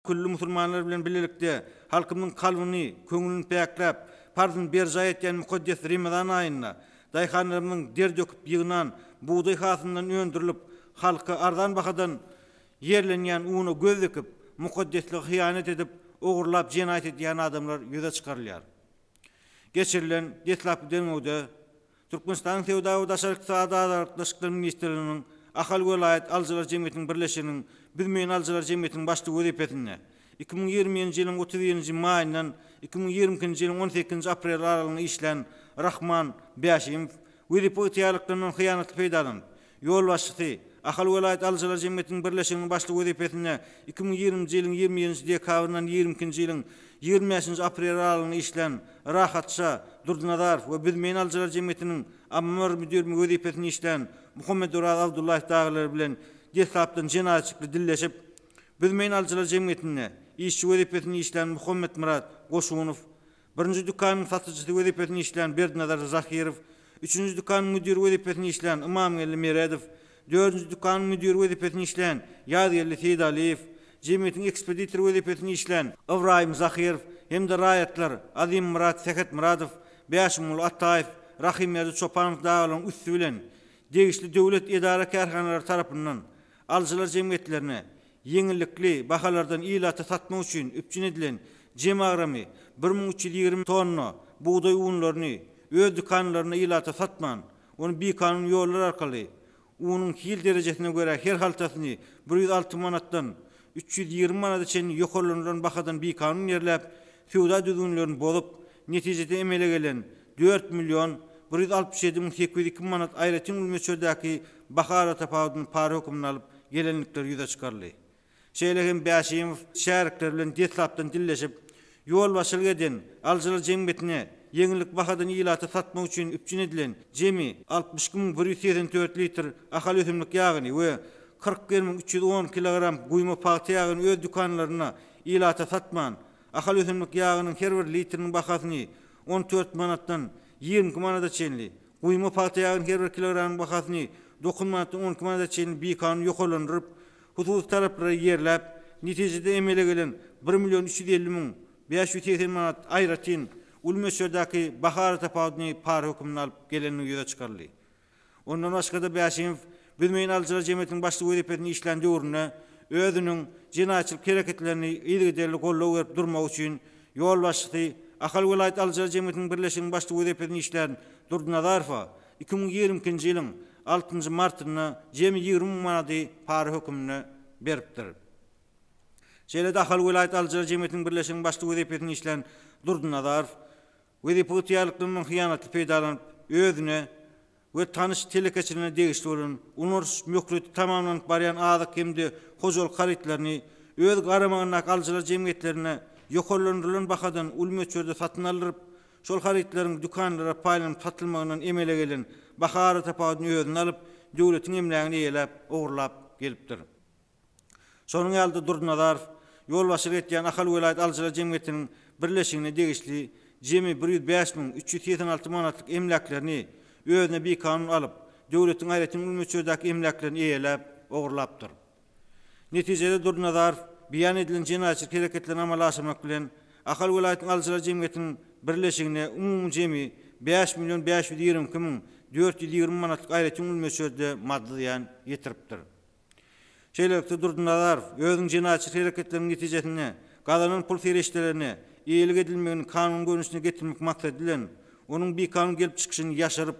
Külli musulmanlar bilen birlikde halkymyzyň kalbyny, köňlüni päkläp, parzyny berjaý etýän mukaddes Remezan aýynda daýhanlarymyzyň der döküp ýygnan bugdaý hasylyndan öndürilip, halka arzan bahadan ýerlenýän una göz dikip, mukaddeslige hyýanat edip, ogurlap jenaýat edýän adamlar ýüze çykarylýar. Geçirilen deslapky derňewde Türkmenistanyň Söwda we daşary ykdysady aragatnaşyklar ministrliginiň Ahal welaýat alyjylar jemgyýetiniň birleşiginiň Büzmeýin alyjylar jemgyýetiniň başlygy wezipesinde iki müň ýigriminji ýylyň otuz birinji maýyndan iki müň ýigrimi ikinji ýylyň on sekizinji apreli aralygynda işlän Rahman Bäşimow wezipe ygtyýarlyklaryndan hyýanatly peýdalanyp, ýolbaşçysy, Ahal welaýat alyjylar jemgyýetiniň birleşiginiň başlygy wezipesinde iki müň ýigriminji ýylyň ýigrimi ýedinji dekabryndan ýigrimi ikinji ýylyň ýigrimi bäşinji apreli aralygynda işlän Rahatja Durdynazarow we Büzmeýin alyjylar jemgyýetiniň Ammar müdirimi wezipesinde işlän Muhammedoraz Abdullaýew dagylar bilen deslapdan jenaýatçykly dilleşip, Büzmeýin alyjylar jemgyýetinde işçi wezipesinde işlän Muhammetmyrat Goşunow Birinji dükanyň satyjysy wezipesinde işleýän Berdinazar Zahirow, üçünji dükanyň müdiri wezipesinde işleýän Ymamgeldi Meredow, dördünji dükanyň müdiri wezipesinde işleýän Ýazgeldi Seýdaliýew, jemgyýetiň ekspeditory wezipesinde işleýän Ybraýym Zahirow hem-de raýatlar Azymyrat Sähetmyradow, Bäşimguly Ataýew, Rahymberdi Çopanow dagalaryň üsti bilen degişli döwlet edara-kärhanalary tarapyndan Alyjylar jemgyýetlerine ýeňillikli bahalardan ilata satmak üçin üpjün edilen jem agramy bir müň üç ýüz ýigrimi tonna bugdaý unlaryny öz dükanlarynda ilata satman, ony bikanun ýollar arkaly unuň hil derejesine görä her haltasyny bir ýüz alty manatdan üç ýüz ýigrimi manada çenli ýokarlandyran bahadan bikanun ýerläp, söwda düzgünlerini bozup, netijesinde emele gelen dört million bir ýüz altmyş ýedi müň sekiz ýüz iki manat aýratyn gül möçberdäki baha aratapawudyny para hökmünde alyp gelendikleri ýüze çykaryldy. Şeýle hem Bäşimow şärikleri bilen deslapdan dilleşip, ýolbaşçylyk eden alyjylar jemgyýetine ýeňillik bahadan ilata satmak üçin üpjün edilen jemi altmyş iki müň bir ýüz segsen dört litr Ahal ösümlik ýagyny we kyrk bir müň üç ýüz on kilogram guýma pagta ýagyny öz dükanlarynda Ilata satman, Ahal ösümlik ýagynyň her bir litriniň bahasyny on dört manatdan ýigrimi iki manada çenli, guýma pagta ýagynyň her bir kilogramynyň bahasyny dokuz manatdan on iki manada çenli bikanun ýokarlandyryp, hususy taraplara ýerläp, netijede emele gelen bir million üç ýüz elli müň bäş ýüz segsen manat aýratyn uly möçberdäki baha aratapawudyny para hökmünde alyp gelenligi ýüze çykaryldy. Ondan başga-da Bäşimow Büzmeýin alyjylar jemgyýetiniň başlygy wezipesinde işlän döwründe özüniň jenaýatçylyk hereketlerini yzygiderli goldaw berip durmagy üçin ýolbaşçysy, Ahal welaýat alyjylar jemgyýetiniň birleşiginiň başlygy wezipesinde işlän Durdynazarowa iki müň ýigrimi ikinji ýylyň altynjy martynda jemi ýigrimi müň manady para hökmünde beripdir. Şeýle-de Ahal welaýat alyjylar jemgyýetiniň birleşiginiň başlygy wezipesinde işlän Durdynazarow, Wezipe ygtyýarlyklaryndan hyýanatly peýdalanyp, özüne we tanyş telekeçilerine degişli bolan, ulandyryş möhleti tamamlanyp barýan azyk hem-de hojalyk harytlaryny öz garamagyndaky alyjylar jemgyýetlerine ýokarlandyrylan bahadan uly möçberde satyn aldyryp, şol harytlaryň dükanlara paýlanyp satylmagyndan emele gelen baha aratapawudyny özüne alyp, döwletiň emlägini eýeläp, ogurlap gelipdir. Şonuň ýaly-da Durdynazarow ýolbaşçylyk edýän Ahal welaýat alyjylar jemgyýetiniň birleşigine degişli jemi bir ýüz bäş müň üç ýüz segsen alty manatlyk emläklerini özüne bikanun alyp, döwletiň aýratyn uly möçberdäki emläklerini eýeläp, ogurlapdyr. Netijede Durdynazarow beýan edilen jenaýatçylyk hereketlerini amala aşyrmak bilen, Ahal welaýatynyň alyjylar jemgyýetiniň birleşigine umumy jemi bäş million bäş ýüz ýigrimi iki müň dört ýüz ýigrimi manatlyk aýratyn uly möçberde maddy zyýan ýetiripdir. Şeýlelikde, Durdynazarow özüniň jenaýatçy hereketleriniň netijesinde gazanan pul serişdelerini eýelik edilmegini kanun görnüşine getirmek maksady bilen, onuň bikanun gelip çykyşyny ýaşyryp,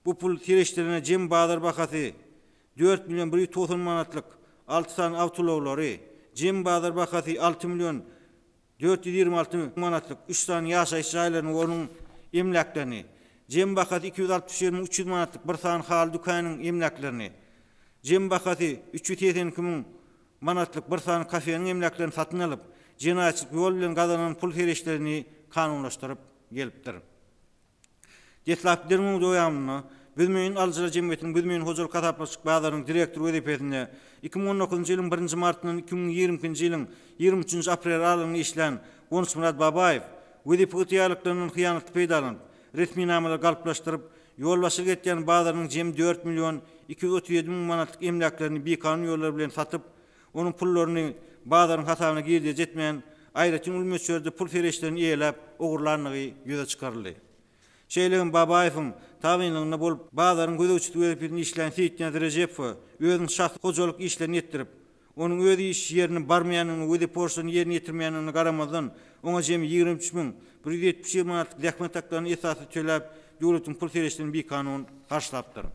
bu pul serişdelerine jem bazar bahasy dört million bir ýüz togsan manatlyk alty sany awtoulaglary, jem bazar bahasy alty million dört ýüz ýigrimi alty müň manatlyk üç sany ýaşaýyş jaýlaryny we onuň emläklerini, jem bahasy iki ýüz altmyş bir müň üç ýüz manatlyk bir sany haly dükäniň emläklerini, jem bahasy üç ýüz segsen iki müň manatlyk bir sany kafeniň emläklerini satyn alyp, jenaýatçylyk ýol bilen gazanan pul-serişdelerini kanunlaşdyryp gelipdir. Deslapky derňewiň dowamynda Büzmeýin alyjylar jemgyýetiniň Büzmeýin hojalyk hasaplaşyk bazarynyň direktory wezipesinde iki müň on dokuzynjy ýylyň birinji martyndan iki müň ýigrimi ikinji ýylyň ýigrimi üçünji apreli aralygynda işlän Gonçmyrat Babaýew wezipe ygtyýarlyklaryndan hyýanatly peýdalanyp, resminamalary galplaşdyryp, ýolbaşçylyk etýän bazarynyň jemi dört million iki ýüz otuz ýedi müň manatlyk emläklerini bikanun ýollar bilen satyp, onuň pullaryny bazaryň hasabyna girdeji etmän, aýratyn uly möçberde pul serişdelerini eýeläp, ogurlandygy ýüze çykaryldy. Şeýle hem Babaýewiň tabynlygynda bolup, bazaryň gözegçisi wezipesinde işlän Seýitniýaz Rejepowa özüniň şahsy hojalyk işlerini etdirip, onuň öz iş ýerine barmaýandygyna we wezip borçlaryny ýerine ýetirmeýändigine garamazdan, oňa jemi ýigrimi üç müň bir ýüz ýetmiş ýigrimi manatlyk zähmet haklaryny esassyz töläp, döwletiň pul serişdelerini bikanun harçlapdyr.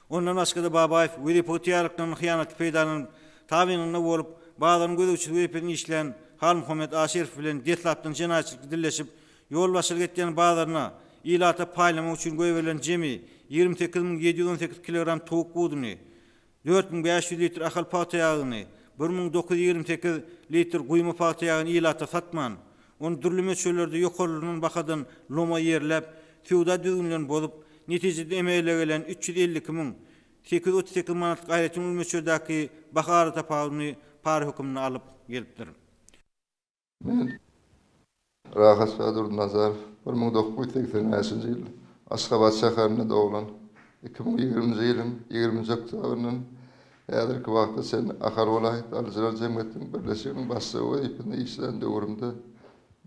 Ondan başga-da Babaýew wezipe ygtyýarlyklaryny hyýanatly peýdalanyp, tabynynda bolup, bazaryň gözegçisi wezipesinde işleýän Halmuhammet Aşyrow bilen deslapdan jenaýatçylykly dilleşip, ýolbaşçylyk etýän bazaryna ilata paýlamak üçin goýberilen jemi ýigrimi sekiz müň ýedi ýüz on sekiz kilogram towuk buduny, dört müň bäş ýüz litr Ahal pagta ýagyny, bir müň dokuz ýüz ýigrimi sekiz litr guýma pagta ýagyny ilata satman, ony dürli möçberlerde ýokarlanan bahadan loma ýerläp, söwda düzgünlerini bozup, netijede emele gelen üç ýüz elli iki müň sekiz ýüz otuz sekiz manatlyk aýratyn uly möçberdäki baha aratapawudyny para hökmünde alyp gelipdir. Men, Rahatşa Durdynazarow, bir müň dokuz ýüz segsen bäşinji ýyl Aşgabat şäherinde doglan. Iki müň ýigriminji ýylyň ýigriminji oktýabryndan häzirki wagta çenli Ahal welaýat alyjylar jemgyýetiniň birleşiginiň başlygy wezipesinde işlän döwrümde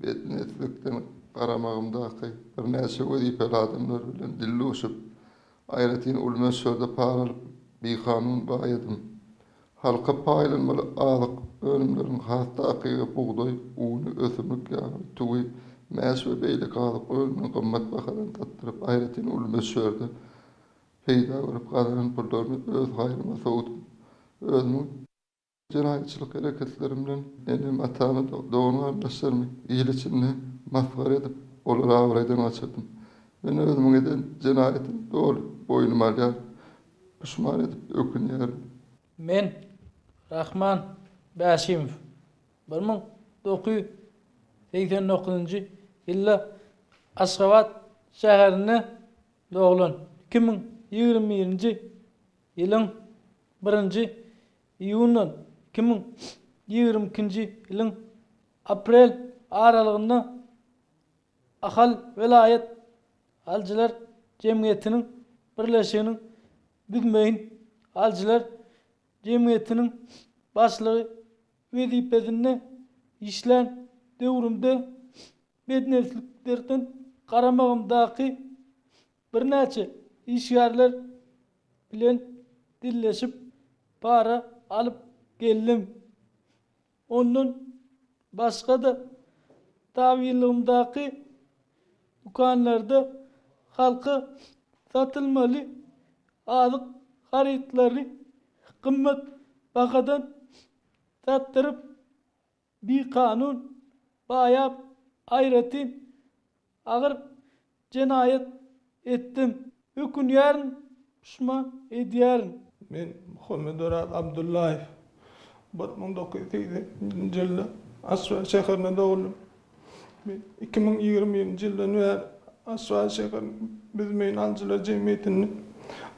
betniýetlilikden garamagymdaky birnäçe wezipeli adamlar bilen dilduşup, aýratyn uly möçberde para alyp, bikanun baýadym. Halka paýlanmaly azyk önümleriniň has takygy bugdaý uny, ösümlik ýagy, tüwi, mäş we beýleki azyk önümini gymmat bahadan satdyryp, aýratyn uly möçberde peýda görüp gazanan pullaryny öz haýryma sowdum. Özümiň. Jenaýatçylyk hereketlerim bilen enem-atamy, dogan-garyndaşlarymy il içinde masgara edip, olary abraýdan gaçyrdym. Men özümiň eden jenaýatymy doly boýnuma alýaryn. Puşman edip ökünýärin. Men, Rahman Bäşimow, bir müň dokuz ýüz segsen dokuzynjy ýylda Aşgabat şäherinde doglan. Iki müň ýigrimi birinji ýylyň birinji iýundan iki müň ýigrimi ikinji ýylyň aprel aralygynda Ahal welaýat alyjylar jemgyýetiniň birleşiginiň Büzmeýin alyjylar jemgyýetiniň başlygy wezipesinde işlän döwrümde bednesliklerden garamagymdaky birnäçe işgärler bilen dilleşip, para alyp geldim. Ondan başga-da, tabynlygymdaky dükanlarda halka satylmaly azyk harytlaryny gymmat bahadan satdyryp, bikanun baýap, aýratyn Agyr jenaýat etdim. Ökünýärin, puşman edýärin. Men Muhammeduraz Abdullaýew. Bir müň dokuz ýüz segsen ikinji ýylda Aswat şäherinde dogdum. Men iki müň ýigrimi birinji ýyldan bäri Aswat şäheriniň Büzmeýin alyjylar jemgyýetinde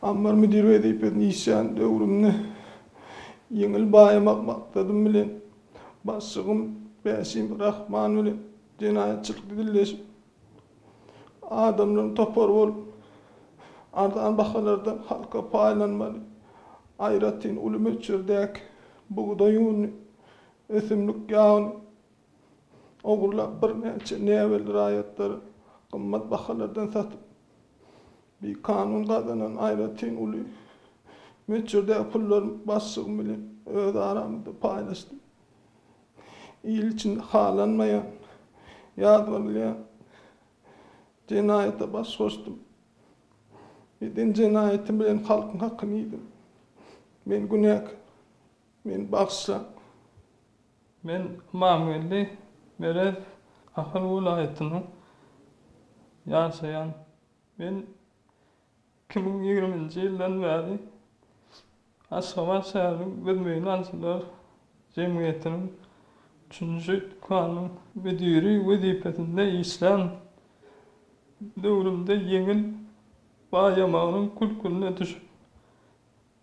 ammar müdiri wezipesinde işleýän döwrümde ýeňil baýamak maksadym bilen, başlygym Bäşim Rahman bilen Jenaýatçylyk dildeşip, adamlaryň topar bolup, arzan bahalardan halka paýlanmaly, aýratyn uly möçberdäki bugdaý ununy, ösümlik ýagyny ogurlap, birnäçe näbelli raýatlary gymmat bahalardan satyp, bikanun gazanan aýratyn uly möçberdäki pullarymy başlygym bilen öz aramyzda paýlaşdym. il içinde halanmaýan ýazgarylýan jenaýata baş goşdum. Eden jenaýatym bilen halkyň hakyny iýdim. Men günäkär. Meni bagyşlaň. Men Ymamgeldi Merez Ahal welaýatynyň ýaşaýan. Men Iki müň ýigriminji ýyldan bäri Aşgabat şäheriniň Biz Meýdançalar jemgyýetiniň üçünji dükanynyň müdiri wezipesinde işlän döwrümde ýeňil baýamagynyň kül-külüne düşüp,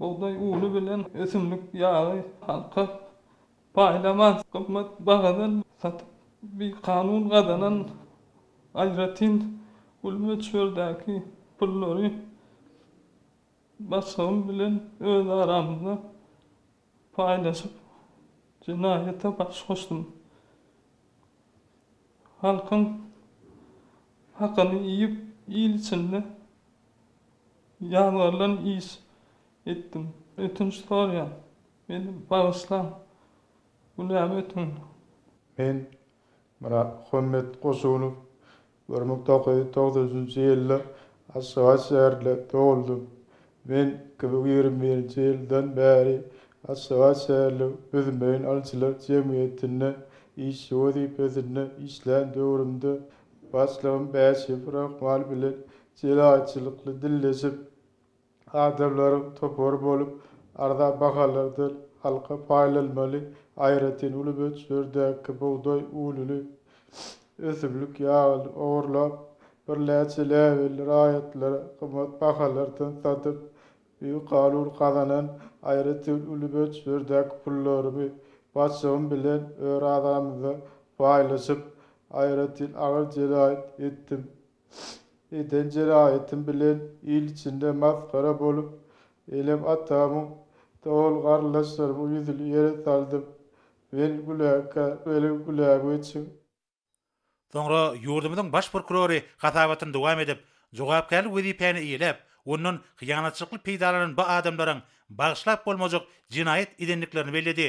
Bugdaý uny bilen ösümlik ýagy halka paýlamaz gymmat bahadan satyp, bikanun gazanan aýratyn uly möçberdäki pullary başgam bilen öz aramyzda paýlaşyp, jenaýata baş goşdum. Halkyň hakyny iýip, il içinde. Ýazgarylan iş etdim. Ötünç sorýan. Meni bagyşlaň. Günämi ötüň. Men Myratmuhammet Goşunow. Bir müň dokuz ýüz togsan üçünji ýylda Aşgabat şäherinde dogluldym. Men iki müň ýigrimi birinji ýyldan bäri Aşgabat şäheriniň Büzmeýin alyjylar jemgyýetinde işçi wezipesinde işlän döwrümde başlygym Bäşiýew Rahman bilen jelaýçylykly dilleşip, adamlaryň topary bolup, arzan bahalardan halka paýlanmaly aýratyn uly möçberdäki bugdaý ununy, ösümlik ýagyny ogurlap, birnäçe läbelli raýatlara gymmat bahalardan satyp, bikanun gazanan aýratyn uly möçberdäki pullarymy, başygym bilen örazamyzda paýlaşyp, aýratyn agyr jenaýat etdim eden jeraýatym bilen il içinde masgara bolup, enem atamyň, dogan-garyndaşlarymyň ýüzüni ýere saldym. Men güläkä, meniň gülägüçim. Soňra ýurdumyzyň Baş prokurory hasabatyny dowam edip, jogapkärli wezipäni eýeläp, ondan hyýanatçylykly peýdalanan bu adamlaryň bagyşlap bolmajak jenaýat edendiklerini belledi.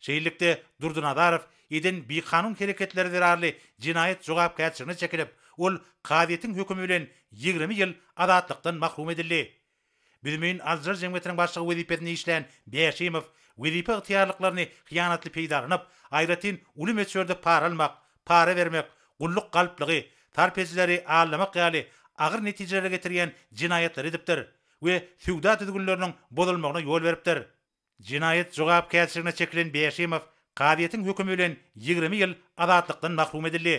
Şeýlelikde, Durdynazarow eden bikanun hereketleri zerarly jenaýat jogapkärçiligine çekilip, ol kazyýetiň hökümi bilen ýigrimi ýyl azatlykdan mahrum edildi. Büzmeýin alyjylar jemgyýetiniň başlygy wezipesinde işlän Bäşimow wezipe ygtyýarlyklaryny hyýanatly peýdalanyp, aýratyn uly möçberde para almak, para bermek, gulluk galplygy, sarp edijileri aldamak ýaly agyr netijelere getirýän jenaýatlary edipdir we söwda düzgünleriniň bozulmagyna ýol beripdir. Jenaýat jogapkärçiligine çekilen Bäşimow kazyýetiň hökümi bilen ýigrimi ýyl azatlykdan mahrum edildi.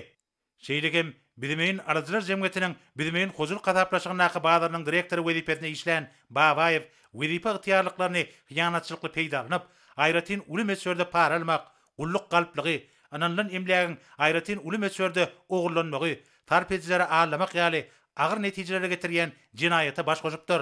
Şeýle hem Büzmeýin alyjylar jemgyýetiniň Büzmeýin hojalyk hasaplaşygyndaky bazarynyň direktory wezipesinde işlän Babaýew wezipe ygtyýarlyklaryny hyýanatçylykly peýda alnyp, aýratyn uly möçberde para almak, gulluk galplygy, ynanylan emlägiň aýratyn uly möçberde ogurlanmagy, sarp edijilere aldamak ýaly agyr netijelere getirýän jenaýata baş goşupdyr.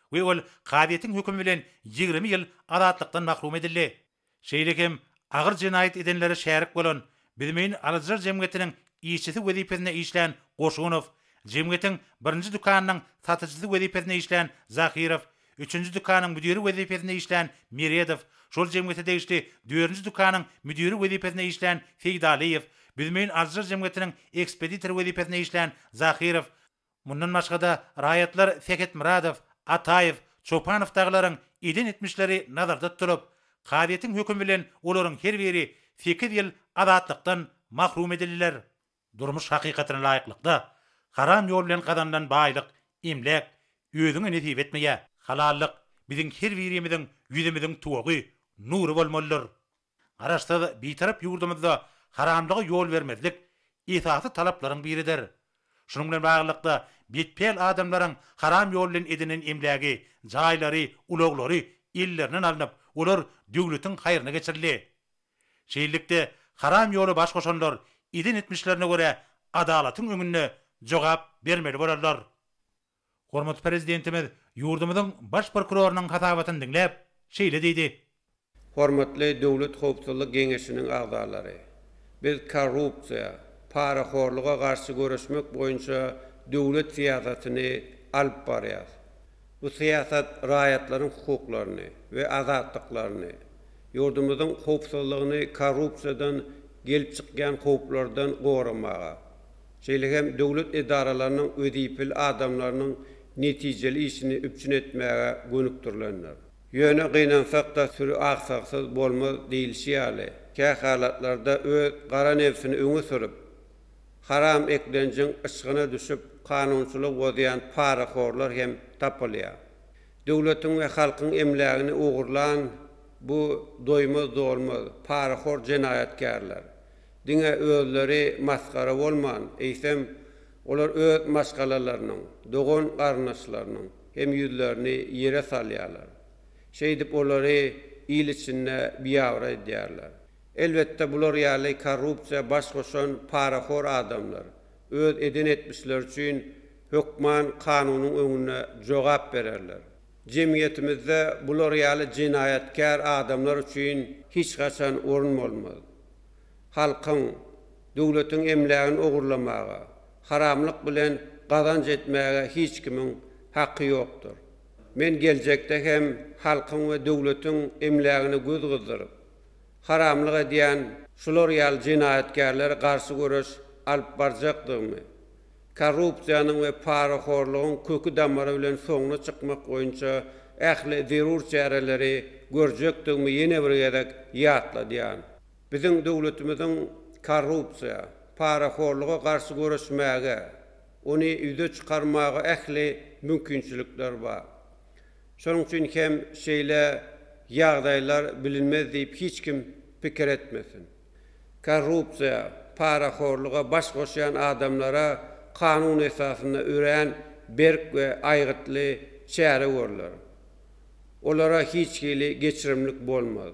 we ol kazyýetiň hökümi bilen ýigrimi ýyl azatlykdan mahrum edildi. Şeýle hem agyr jenaýat edenlere şärik bolan Bizmeýin alyjylar jemgyýetiniň işçisi wezipesinde işlän Goşunow, jemgyýetiň birinji dükanynyň satyjysy wezipesinde işlän Zahirow, üçünji dükanyň müdiri wezipesinde işlän Meredow, şol jemgyýete degişli dördünji dükanyň müdiri wezipesinde işlän Seýdalyýew, Bizmeýin alyjylar jemgyýetiniň ekspeditory wezipesinde işlän Zahirow, Mundan başga-da, raýatlar Sähetmyradow, Ataýew, Çopanow dagylaryň eden etmişleri nazarda tutulyp, kazyýetiň hökümi bilen olaryň her biri sekiz ýyl azatlykdan mahrum edildiler. Durmuş hakykatyna laýyklykda, haram ýol bilen gazanylan baýlyk, emläk, özüňe nesip etmeýär. Halallyk, biziň her birimiziň ýüzümiziň tuwagy, nury bolmalydyr. Garaşsyz, Bitarap ýurdumyzda haramlyga ýol bermezlik esasy talaplaryň biridir. Şunuň bilen baglylykda, betpäl adamlaryň haram ýol bilen edinen emlägi, jaýlary, ulaglary ellerinden alnyp, olar döwletiň haýryna geçirildi. Şeýlelikde, haram ýola baş goşanlar eden etmişlerine görä adalatyň öňünde jogap bermeli bolarlar. Hormatly Prezidentimiz ýurdumyzyň Baş prokurorynyň hasabatyny diňläp, şeýle diýdi. Hormatly Döwlet howpsuzlyk geňeşiniň agzalary! Biz korrupsiýa, parahorluga garşy göreşmek boýunça döwlet syýasatyny alyp barýarys. Bu syýasat raýatlaryň hukuklaryny we azatlyklaryny, ýurdumyzyň howpsuzlygyny korrupsiýadan gelip çykýan howplardan goramaga, şeýle hem döwlet edaralarynyň wezipeli adamlarynyň netijeli işini üpjün etmäge gönükdirilendir. Ýöne gynansak-da süri aksagsyz bolmaz diýlişi ýaly, kä halatlarda öz gara nebsini öňe sürüp, haram eklenjiň yşgyna düşüp kanunçylygy bozýan parahorlar hem tapylýar. Döwletiň we halkyň emlägini ogurlan bu doýmaz-dolmaz, parahor jenaýatkärler Diňe özleri masgara bolman, eýsem, olar öz maşgalalarynyň, dogan-garyndaşlarynyň hem ýüzlerini ýere salýarlar. Şeýdip, olary il içinde biabraý edýärler. Elbetde, bular ýaly korrupsiýa baş goşan parahor adamlar öz eden etmişleri üçin hökman kanunyň öňünde jogap bererler. Jemgyýetimizde bular ýaly jenaýatkär adamlar üçin hiç haçan orun bolmaz. halkyň, döwletiň emlägini ogurlamaga, haramlyk bilen gazanç etmäge hiç kimiň haky ýokdur. Men geljekde hem halkyň we döwletiň emlägine göz gyzdyryp, haramlyk edýän şular ýaly jenaýatkärlere garşy göreş alyp barjakdygymy korrupsiýanyň we parahorlugyň köki-damary bilen soňuna çykmak boýunça ähli zerur çäreleri görjekdigimi ýene bir gezek ýatladýan. Biziň döwletimiziň korrupsiýa, parahorluga garşy göreşmäge, ony ýüze çykarmaga ähli mümkinçilikler bar. Şonuň üçin hem şeýle ýagdaýlar bilinmez diýip hiç kim pikir etmesin. korrupsiýa, parahorluga baş goşýan adamlara kanun esasynda örän berk we aýgytly çäre görler. Olara hiç hili geçirimlik bolmaz.